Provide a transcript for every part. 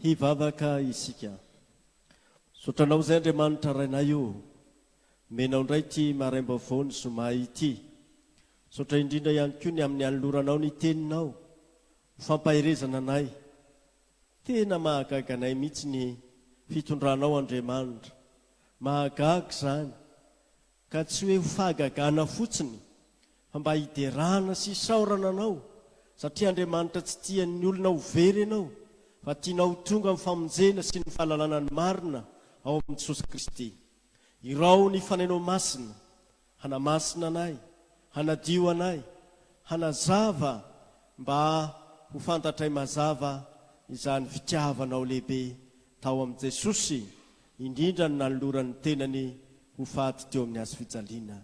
Hivavaka isika. Misaotra Anao izay Andriamanitra Rainay o! Omenao indray ity maraim-baovao ny zoma ity. Misaotra indrindra ihany koa ny amin'ny anoloranao ny Teninao ho fampaherezana anay. Tena mahagaga anay mihitsy ny fitondranao Andriamanitra. Mahagaga izany. Ka tsy hoe ho fahagagana fotsiny, fa mba hiderana sy hisaorana anao, satria Andriamanitra tsy tian'ny olona ho very ianao, fa tianao ho tonga amin'ny famonjena sy ny fahalalana ny marina ao amin'i Jesosy Kristy. Iraho ny Fanainao Masina, hanamasina anay, hanadio anay, hanazava mba ho fantatray mazava izany fitiavanao lehibe tao amin'i Jesosy indrindra ny nanolorany ny tenany ho fady teo amin'ny hazo fijaliana.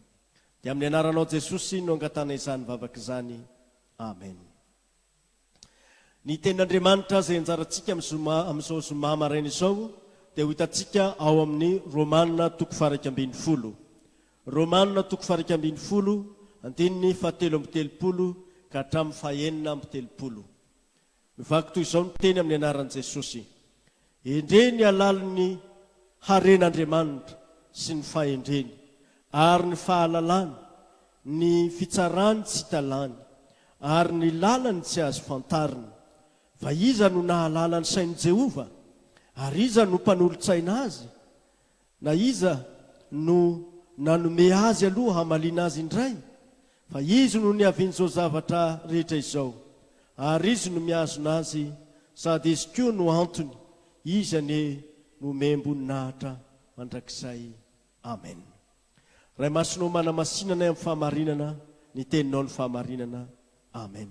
Dia amin'ny anaranao Jesosy no angatahana izany vavaka izany. Amen. Ny tenin'Andriamanitra izay ianjarantsika amin'ny zoma amin'izao zoma maraina izao dia ho hitantsika ao amin'ny Romana toko faharaika ambin'ny folo. Romana toko faharaika ambin'ny folo, andininy fahatelo amby telopolo ka hatramin'ny fahenina amby telopolo. Mivaky toy izao ny teny amin'ny anaran'i Jesosy, Endrey ny halalin'ny haren'Andriamanitra sy ny fahendreny, ary ny fahalalany, ny fitsarany tsy talany, ary ny lalany tsy azo fantarina. Fa iza no nahalala ny sain'i Jehovah? Ary iza no mpanolo-tsaina azy? Na iza no nanome azy aloha hamaliana azy indray? Fa izy no niavian'izao zavatra rehetra izao, ary izy no mihazona azy, sady izy koa no antony, izy anie no omem-boninahitra mandrakizay. Amen. Ray Masina ô manamasinanay amin'ny fahamarinana ny teninao ny fahamarinana. Amen.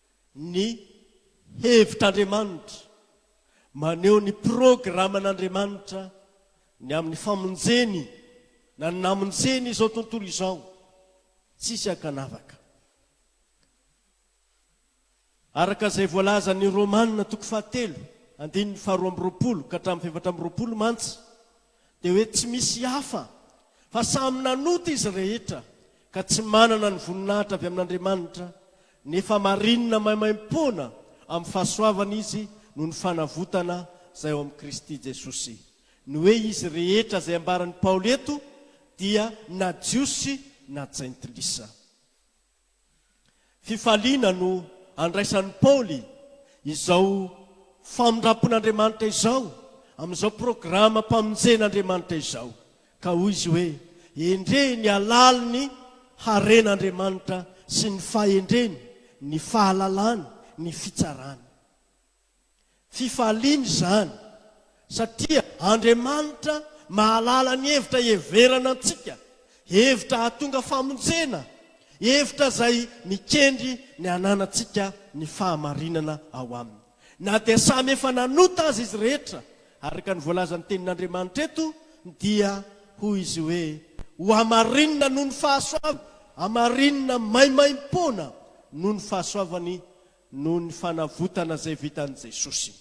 ny hevitr'Andriamanitra, maneho ny programan'Andriamanitra ny amin'ny famonjeny na ny namonjeny izao tontolo izao tsisy ankanavaka. Araka izay voalazan'ny Romana toko fahatelo andininy faharoa amby roapolo ka hatramin'ny fahefatra amby roapolo mantsy, dia hoe tsy misy hafa fa samy nanota izy rehetra ka tsy manana ny voninahitra avy amin'Andriamanitra, nefa marina maimaim-poana amin'ny fahasoavana izy noho ny fanavotana izay ao amin'i Kristy Jesosy. Ny hoe izy rehetra izay ambaran'i Paoly eto dia na Jiosy na Jentilisa. Fifaliana no andraisan'i Paoly izao famindram-pon'Andriamanitra izao amin'izao programam-pamonjen'Andriamanitra izao, ka hoy izy hoe, Endrehy ny halalin'ny haren'Andriamanitra sy ny fahendreny, ny fahalalany, ny fitsarany. Fifaliana izany, satria Andriamanitra mahalala ny hevitra hiheverana antsika, hevitra hahatonga famonjena, hevitra izay mikendry ny hananantsika ny fahamarinana ao Aminy. Na dia samy efa nanota aza izy rehetra, araka ny voalazan'ny Tenin'Andriamanitra eto, dia hoy Izy hoe, Ho hamarinina noho ny fahasoavany, hamarinina maimaim-poana noho ny fahasoavany, noho ny fanavotana izay vitan'i Jesosy.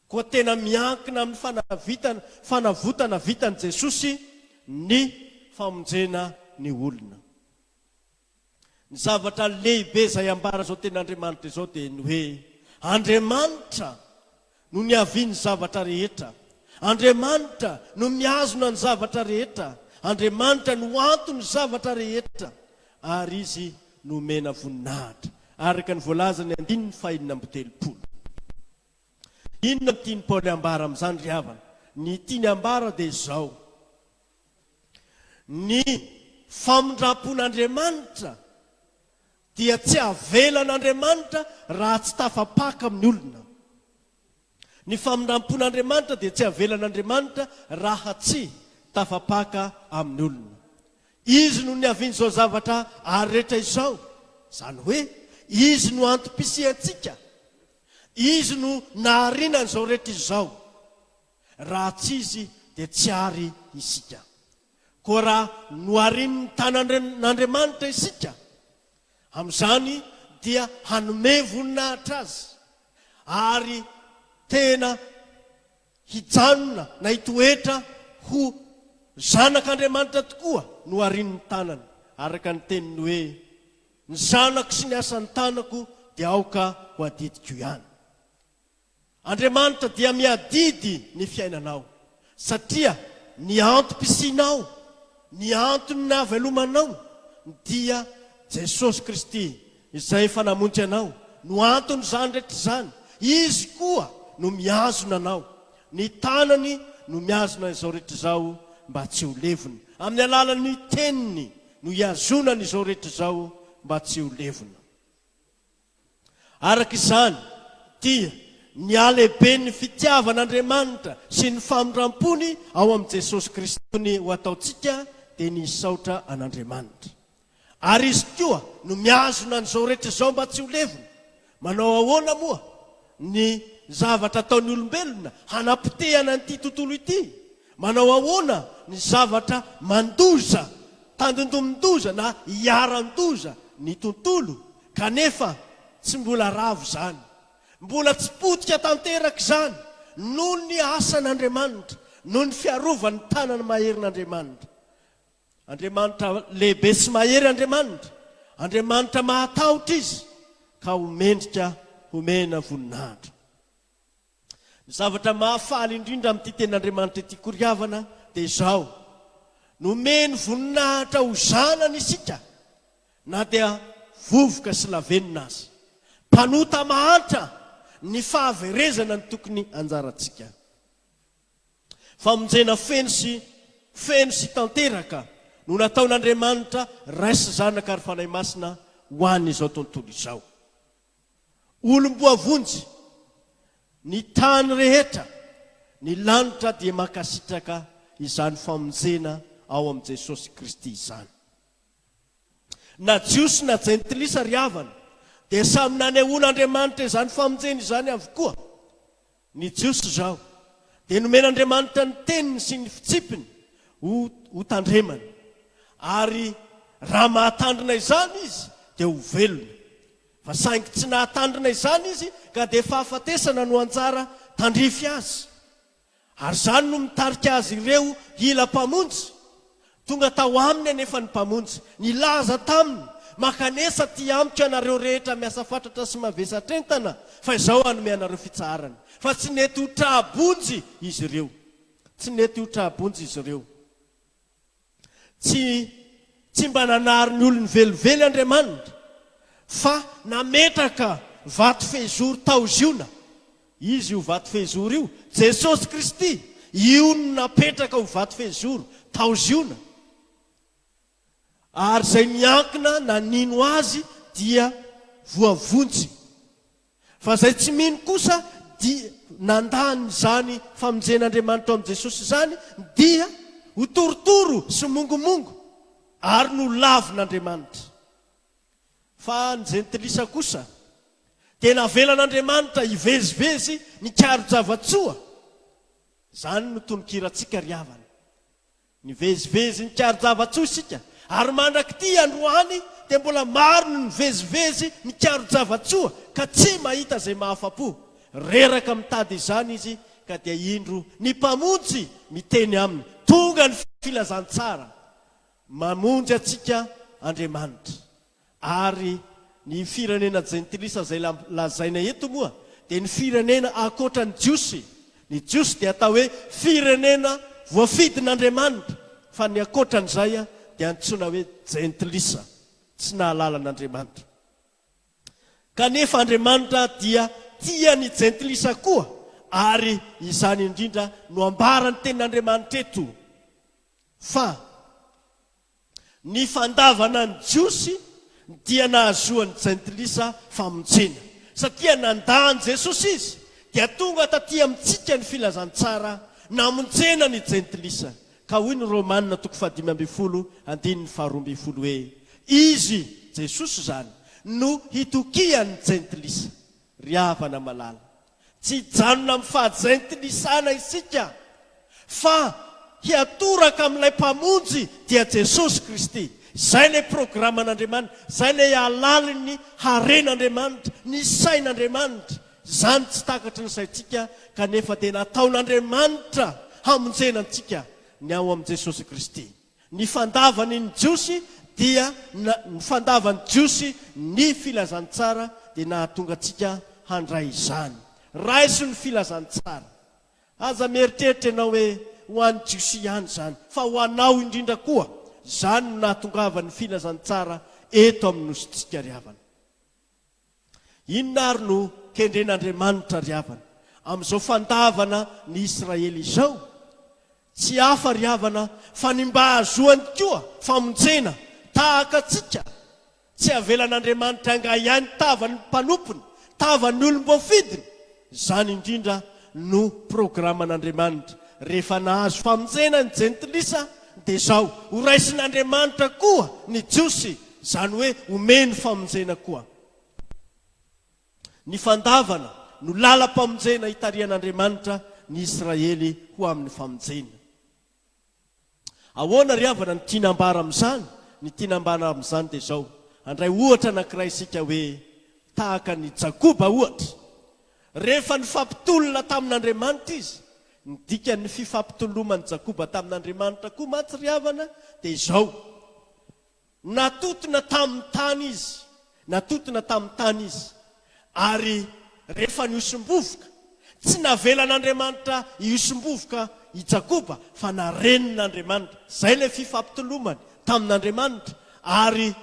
Koa tena miankina amin'ny fanavitana, fanavotana vitan'i Jesosy ny famonjena ny olona. Ny zavatra lehibe izay ambara izao tenin'Andriamanitra izao dia ny hoe Andriamanitra No niavian'ny zavatra rehetra. Andriamanitra no mihazona ny zavatra rehetra. Andriamanitra no anton'ny zavatra rehetra. Ary Izy nomena voninahitra, araka ny voalazan'ny andininy fahenina amby telopolo. Inona no tian'i Paoly hambara amin'izany, ry havana? Ny tiany hambara dia izao, Ny famindram-pon'Andriamanitra dia tsy havelan'Andriamanitra raha tsy tafapaka amin'ny olona. Ny famindrampon'Andriamanitra dia tsy havelan'Andriamanitra raha tsy tafapaka amin'ny olona. Izy no niavian'izao zavatra ary rehetra izao, izany hoe Izy no antom-pisiantsika, Izy no nahariana an'izao rehetra izao. Raha tsy Izy dia tsy àry isika. Koa raha noharin' ny tanan' Andriamanitra isika, amin' izany dia hanome voninahitra Azy, ary tena hijanona na hitoetra ho zanak' Andriamanitra tokoa noharin' ny tanany, araka ny teniny hoe, Ny zanako sy ny asan-tanako dia aoka ho adidiko ihany. Andriamanitra dia miadidy ny fiainanao, satria ny antom-pisianao, ny antony nahavelomanao dia Jesosy Kristy Izay efa namonjy anao, no anton'izany rehetra izany, Izy koa no mihazona anao, ny tanany no mihazona izao rehetra izao mba tsy ho levona, amin'ny alalan'ny teniny no ihazonany izao rehetra izao mba tsy ho levona. Araka izany, dia nihalehibe ny fitiavan'Andriamanitra sy ny famindram-pony ao amin'i Jesosy Kristy ny ho ataontsika dia ny hisaotra an'Andriamanitra. Ary Izy koa no mihazona an'izao rehetra izao mba tsy ho levona. Manao ahoana moa ny zavatra ataon'ny olombelona hanapotehana an'ity tontolo ity? Manao ahoana ny zavatra mandoza, tandindomin-doza na iharan-doza ny tontolo Kanefa, tsy mbola ravo izany. Mbola tsy potika tanteraka izany noho ny asan'Andriamanitra, noho ny fiarovan'ny tanany maherin'Andriamanitra. Andriamanitra lehibe sy mahery Andriamanitra, Andriamanitra mahatahotra Izy, ka ho mendrika homena voninahitra. Ny zavatra mahafaly indrindra amin'ity Tenin'Andriamanitra ity koa ry havana dia izao, nomeny voninahitra ho zanany isika na dia vovoka sy lavenona aza. Mpanota mahantra ny fahaverezana ny tokony anjarantsika. Famonjena feno sy feno sy tanteraka no nataon'Andriamanitra Ray sy Zanaka ary Fanahy Masina ho an'izao tontolo izao. Olom-boavonjy, ny tany rehetra, ny lanitra dia mankasitraka izany famonjena ao amin'i Jesosy Kristy izany. Na Jiosy na Jentilisa ry havana dia samy nanehoan'Andriamanitra izany famonjena izany avokoa. Ny Jiosy izao dia nomen'Andriamanitra ny Teniny sy ny Fitsipiny ho hotandremana, ary raha mahatandrina izany izy dia ho velona, fa saingy tsy nahatandrina izany izy ka dia fahafatesana no anjara tandrify azy, ary izany no mitarika azy ireo hila Mpamonjy, Tonga tao aminy anefa ny Mpamonjy, nilaza taminy, Makanesa aty amiko ianareo rehetra miasa fatratra sy mavesatra entana, fa izao hanome anareo fitsaharana. Fa tsy nety ho tra-bonjy izy ireo. Tsy nety ho tra-bonjy izy ireo. Tsy, tsy mba nanary ny olony velively Andriamanitra, fa nametraka vato fehizoro tao Ziona. Izy io vato fehizoro io, Jesosy Kristy, io no napetraka ho vato fehizoro tao Ziona, ary izay miankina nanino Azy dia voavonjy, fa izay tsy mino kosa dia nandà an'izany famonjen'Andriamanitra ao amin'i Jesosy izany dia ho torotoro sy mongomongo ary no lavin'Andriamanitra. Fa ny jentilisa kosa dia navelan'Andriamanitra hivezivezy nikaro-java-tsoa. Izany no tononkirantsika ry havana. Nivezivezy nikaro-java-tsoa isika, ary mandrak'ity androany dia mbola maro ny mivezivezy nikaro-java-tsoa ka tsy mahita izay mahafa-po. Reraka mitady izany izy ka dia indro ny Mpamonjy miteny aminy, Tonga ny filazantsara! Mamonjy antsika Andriamanitra. Ary ny firenena jentilisa izay lazaina eto moa dia ny firenena ankoatra ny Jiosy. Ny Jiosy dia atao hoe firenena voafidin'Andriamanitra, fa ny ankoatra an'izay dia antsoina hoe jentilisa, tsy nahalala an'Andriamanitra. Kanefa Andriamanitra dia tia ny jentilisa koa, ary izany indrindra no ambaran'ny tenin'Andriamanitra eto. Fa ny fandavana ny Jiosy dia nahazoan'ny Jentilisa famonjena. Satria nandà an'i Jesosy izy, dia tonga taty amintsika ny filazantsara namonjena ny Jentilisa. Ka hoy ny Romana toko fahadimy ambin'ny folo andininy faharoa ambin'ny folo hoe, Izy, Jesosy, izany no hitokian'ny Jentilisa. Ry havana malala, Tsy hijanona amin'ny fahazaintinisana isika fa hiatoraka amin'ilay Mpamonjy dia Jesosy Kristy. Izay ilay programan'Andriamanitra, izay ilay halalin'ny haren'Andriamanitra, ny sain'Andriamanitra. Izany tsy takatry ny saintsika kanefa dia nataon'Andriamanitra hamonjena antsika ny ao amin'i Jesosy Kristy. Ny fandavany ny Jiosy dia na, ny fandavan'ny Jiosy ny Filazantsara dia nahatonga antsika handray izany. Raiso ny Filazantsara. Aza mieritreritra ianao hoe ho an'ny Jiosy ihany izany, fa ho anao indrindra koa. Izany no nahatongavan'ny Filazantsara eto amin'ny Nosintsika ry havana. Inona ary no kendren'Andriamanitra ry havana, amin'izao fandavana ny Israely izao? Tsy hafa ry havana fa ny mba hahazoany koa famonjena tahaka antsika. Tsy avelan'Andriamanitra hangahiahy ny tavan'ny mpanompony, tavan'ny olom-boafidiny. Izany indrindra no programan'Andriamanitra. Rehefa nahazo famonjena ny Jentilisa, dia izao, horaisin'Andriamanitra koa ny Jiosy, izany hoe homeny famonjena koa. Ny fandavana no lalam-pamonjena itarihan'Andriamanitra ny Israely ho amin'ny famonjena. Ahoana ry havana no tiana ambara amin'izany? Ny tiana ambara amin'izany dia izao, handray ohatra anankiray isika hoe tahaka an'i Jakoba ohatra. Rehefa nifampitolona tamin'Andriamanitra izy, ny dikan'ny fifampitoloman'i Jakoba tamin'Andriamanitra koa mantsy ry havana dia izao, Natotona tamin'ny tany izy, natotona tamin'ny tany izy, ary rehefa nihosom-bovoka, tsy navelan'Andriamanitra hihosom-bovoka i Jakoba, fa narenin'Andriamanitra. Izay ilay fifampitolomany tamin'Andriamanitra, ary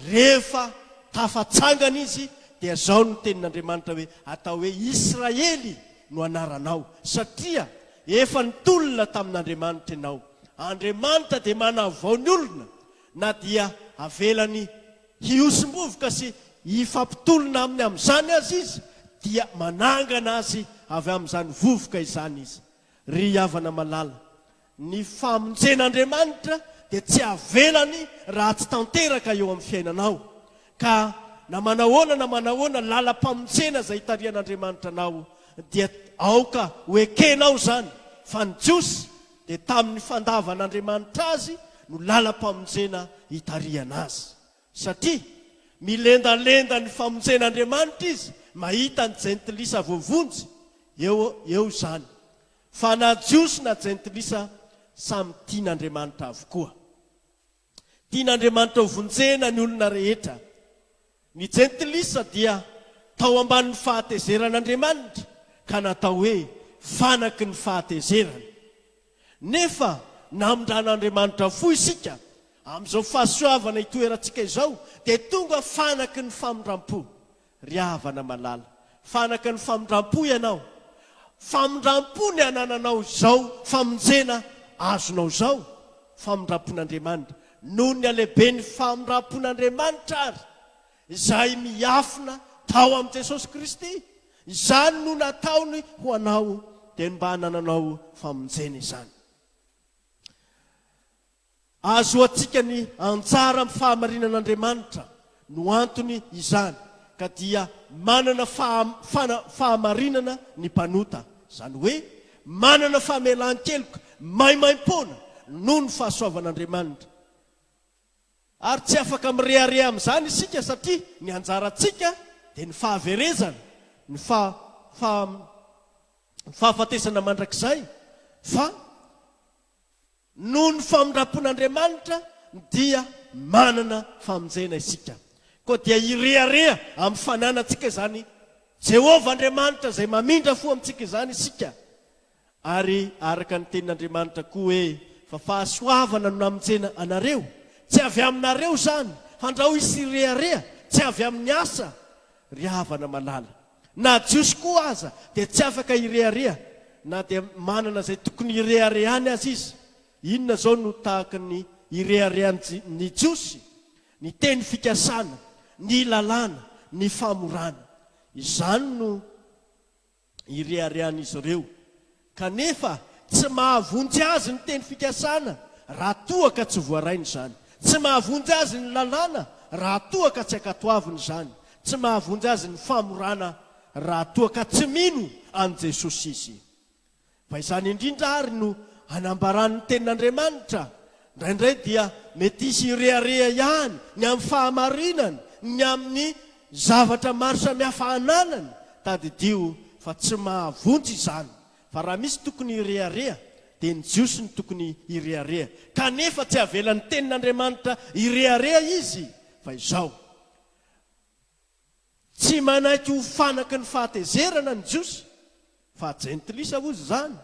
rehefa tafatsangana izy, dia izao no tenin'Andriamanitra hoe, Atao hoe Israely no anaranao, satria efa nitolona tamin'Andriamanitra ianao. Andriamanitra dia manavao ny olona na dia avelany hihosom-bovoka sy hifampitolona aminy amin'izany aza izy dia manangana azy avy amin'izany vovoka izany izy. Ry havana malala, ny famonjen'Andriamanitra dia tsy avelany ratsy tanteraka eo amin'ny fiainanao ka na manahoana na manahoana lalam-pamonjena izay itarihan'Andriamanitra anao dia aoka ho ekenao izany fa ny Jiosy dia tamin'ny fandavan'Andriamanitra azy no lalam-pamonjena hitarihana azy. Satria milendalenda ny famonjen'Andriamanitra izy mahita ny jentilisa voavonjy, eo eo izany, fa na Jiosy na jentilisa samy tian'Andriamanitra avokoa. Tian'Andriamanitra ho vonjena ny olona rehetra. Ny Jentilisa dia tao ambanin'ny fahatezeran'Andriamanitra ka natao hoe fanaky ny fahatezerany. Nefa namindran'Andriamanitra fo isika, amin'izao fahasoavana itoerantsika izao dia tonga fanaky ny famindram-po. Ry havana malala, fanaka ny famindrampo ianao. Famindrampo ny anananao izao famonjena azonao izao, famindrampon'Andriamanitra. Noho ny halehiben'ny famindrampon'Andriamanitra àry, izay miafina tao amin'i Jesosy Kristy, izany no nataony ho anao, dia ny mba hanananao famonjena izany. Ahazoantsika ny anjara amin'ny fahamarinana Andriamanitra no antony izany ka dia manana faham, fahamarinana ny mpanota, izany hoe manana famelan-keloka maimaim-poana noho ny fahasoavan'Andriamanitra. Ary tsy afaka mirehareha amin'izany isika satria ny anjarantsika dia ny fahaverezana, ny fa, faham, fahafatesana mandrakizay, fa. Noho ny famindram-pon'Andriamanitra dia manana famonjena isika. Koa dia hirehareha amin'ny fananantsika izany Jehovah Andriamanitra izay mamindra fo amintsika izany isika. Ary araka ny tenin'Andriamanitra koa hoe, Fa fahasoavana no namonjena anareo. Tsy avy aminareo izany, handrao hisy hirehareha, tsy avy amin'ny asa, ry havana malala. Na Jiosy koa aza dia tsy afaka hirehareha na dia manana izay tokony hireharehany aza izy. Inona izao no tahaka ny ireharehan'ny ny Jiosy? Ny teny fikasana, ny lalàna, ny famorana. Izany no ireharehan'izy ireo. Kanefa, tsy mahavonjy azy ny teny fikasana raha toa ka tsy voarainy izany. Tsy mahavonjy azy ny lalàna raha toa ka tsy ankatoaviny izany. Tsy mahavonjy azy ny famorana raha toa ka tsy mino an'i Jesosy izy. Fa izany indrindra àry no anambaran'ny Tenin'Andriamanitra, Indraindray dia mety hisy hirehareha ihany ny amin'ny fahamarinany ny amin'ny zavatra maro samihafa ananany. Tadidio fa tsy mahavonjy izany, fa raha misy tokony hirehareha, dia ny Jiosy no tokony hirehareha. Kanefa tsy avelan'ny Tenin'Andriamanitra hirehareha izy, fa izao. Tsy manaiky ho fanaky ny fahatezerana ny Jiosy, fa Jentilisa hozy izany.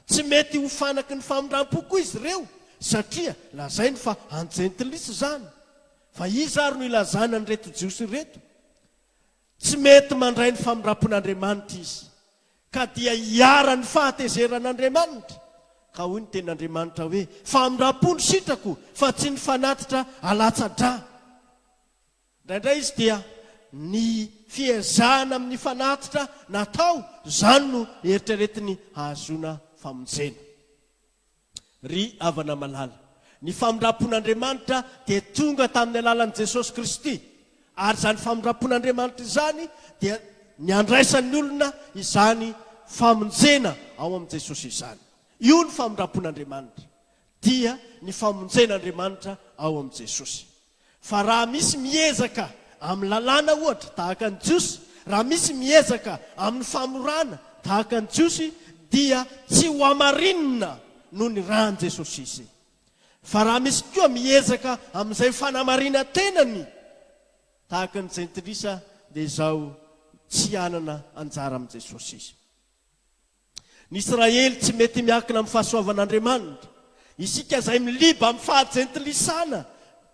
Tsy mety ho fanaky ny famindram-po koa izy ireo, satria lazainy fa an'ny Jentilisa izany. Fa iza ary no ilazana an'ireto Jiosy ireto? Tsy mety mandray ny famindram-pon'Andriamanitra izy, ka dia iharan'ny fahatezeran'Andriamanitra. Ka hoy ny Tenin'Andriamanitra hoe, Famindram-po no sitrako, fa tsy ny fanatitra alatsa-drà. Indraindray izy dia ny fiezahana amin'ny fanatitra natao izany no eritreretiny hahazoana famonjena. Ry havana malala, ny famindram-pon'Andriamanitra dia tonga tamin'ny alalan'i Jesosy Kristy, ary izany famindram-pon'Andriamanitra izany dia ny handraisan'ny olona izany famonjena ao amin'i Jesosy izany. Io ny famindram-pon'Andriamanitra, dia ny famonjen'Andriamanitra ao amin'i Jesosy. Fa raha misy miezaka amin'ny lalàna, ohatra, tahaka ny Jiosy, raha misy miezaka amin'ny famorana, tahaka ny Jiosy, dia tsy ho hamarinina noho ny ran'i Jesosy izy. Fa raha misy koa miezaka amin'izay fanamarinan-tenany, tahaka ny Jentilisa, dia izao, tsy hanana anjara amin'i Jesosy izy. Ny Israely tsy mety miankina amin'ny fahasoavan'Andriamanitra. Isika izay miliba amin'ny faha-jentilisana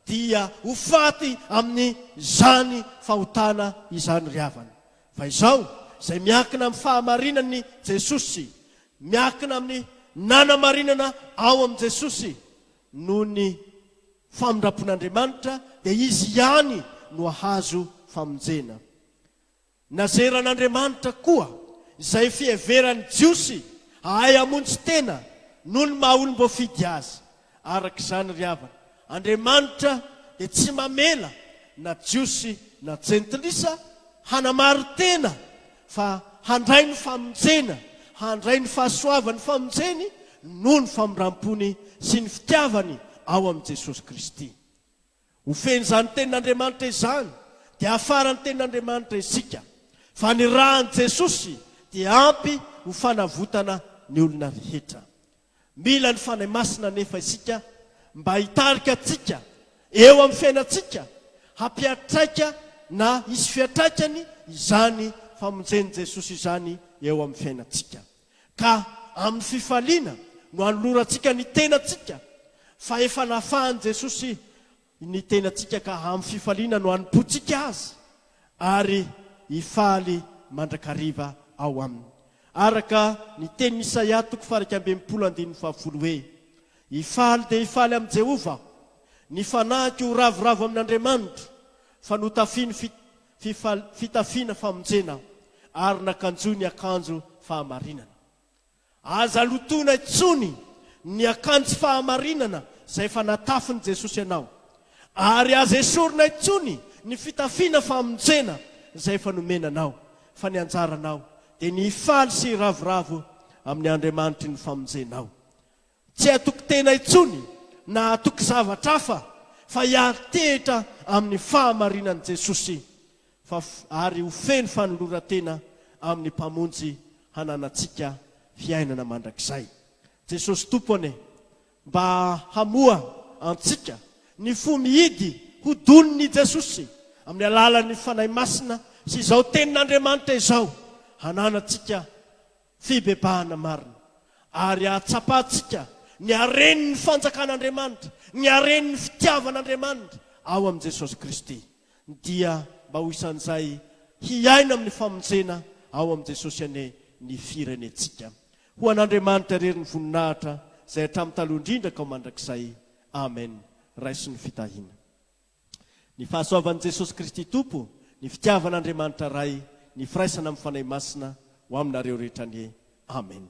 dia ho faty amin'izany fahotana izany ry havana. Fa izao, izay miankina amin'ny fahamarinan'i Jesosy, miankina amin'ny nanamarinana ao amin'i Jesosy noho ny famindram-pon'Andriamanitra, dia izy ihany no hahazo famonjena. Nazeran'Andriamanitra koa izay fiheveran'ny Jiosy hahay hamonjy tena noho ny maha olom-boafidy azy. Araka izany ry havana, Andriamanitra dia tsy mamela na Jiosy na Jentilisa hanamari-tena fa handray ny famonjena, handray ny fahasoavany famonjeny noho ny famindram-pony sy ny fitiavany ao amin'i Jesosy Kristy. Ho fen'izany Tenin'Andriamanitra izany, dia hafaran'ny Tenin'Andriamanitra isika, fa ny ran'i Jesosy dia ampy ho fanavotana ny olona rehetra. Mila ny Fanahy Masina anefa isika mba hitarika antsika eo amin'ny fiainantsika, hampiatraika na hisy fiatraikany izany famonjen'i Jesosy izany eo amin'ny fiainantsika. Ka amin'ny fifaliana no anolorantsika ny tenantsika, fa efa nafahan'i Jesosy ny tenantsika ka amin'ny fifaliana no anompoantsika Azy ary hifaly mandrakariva ao Aminy. Araka ny tenin'i Isaia toko faha-iraika amby enimpolo andininy fahafolo hoe, Hifaly dia hifaly amin'i Jehovah aho, ny fanahiko ho ravoravo amin'Andriamanitro, fa notafiany fifal fitafiana famonjena ary nakanjoy ny akanjo fahamarinana. Aza lotoina intsony ny akanjo fahamarinana izay efa natafin'i Jesosy anao, ary aza esorina intsony ny fitafiana famonjena izay efa nomena anao, fa ny anjaranao dia ny hifaly sy hiravoravo amin'ny Andriamanitry ny famonjenao. Tsy hatoky tena intsony na hatoky zavatra hafa fa hiari-tehitra amin'ny fahamarinan'i Jesosy fa ary ho feno fanoloran-tena amin'ny Mpamonjy hananantsika fiainana mandrakizay. Jesosy Tompo anie mba hamoha antsika ny fo mihidy ho donin'i Jesosy amin'ny alalan'ny Fanahy Masina sy izao Tenin'Andriamanitra izao hananantsika Fibebahana marina. Ary hahatsapantsika ny haren'ny fanjakan'Andriamanitra, ny haren'ny fitiavan'Andriamanitra ao amin'i Jesosy Kristy, dia mba ho isan'izay hiaina amin'ny famonjena ao amin'i Jesosy anie ny firenentsika. Ho an'Andriamanitra irery ny voninahitra izay hatramin'ny taloha indrindra ka ho mandrakizay. Amen. Raiso ny fitahiana. Ny fahasoavan'i Jesosy Kristy Tompo, ny fitiavan'Andriamanitra Ray, ny firaisana amin'ny Fanahy Masina ho aminareo rehetra anie. Amen.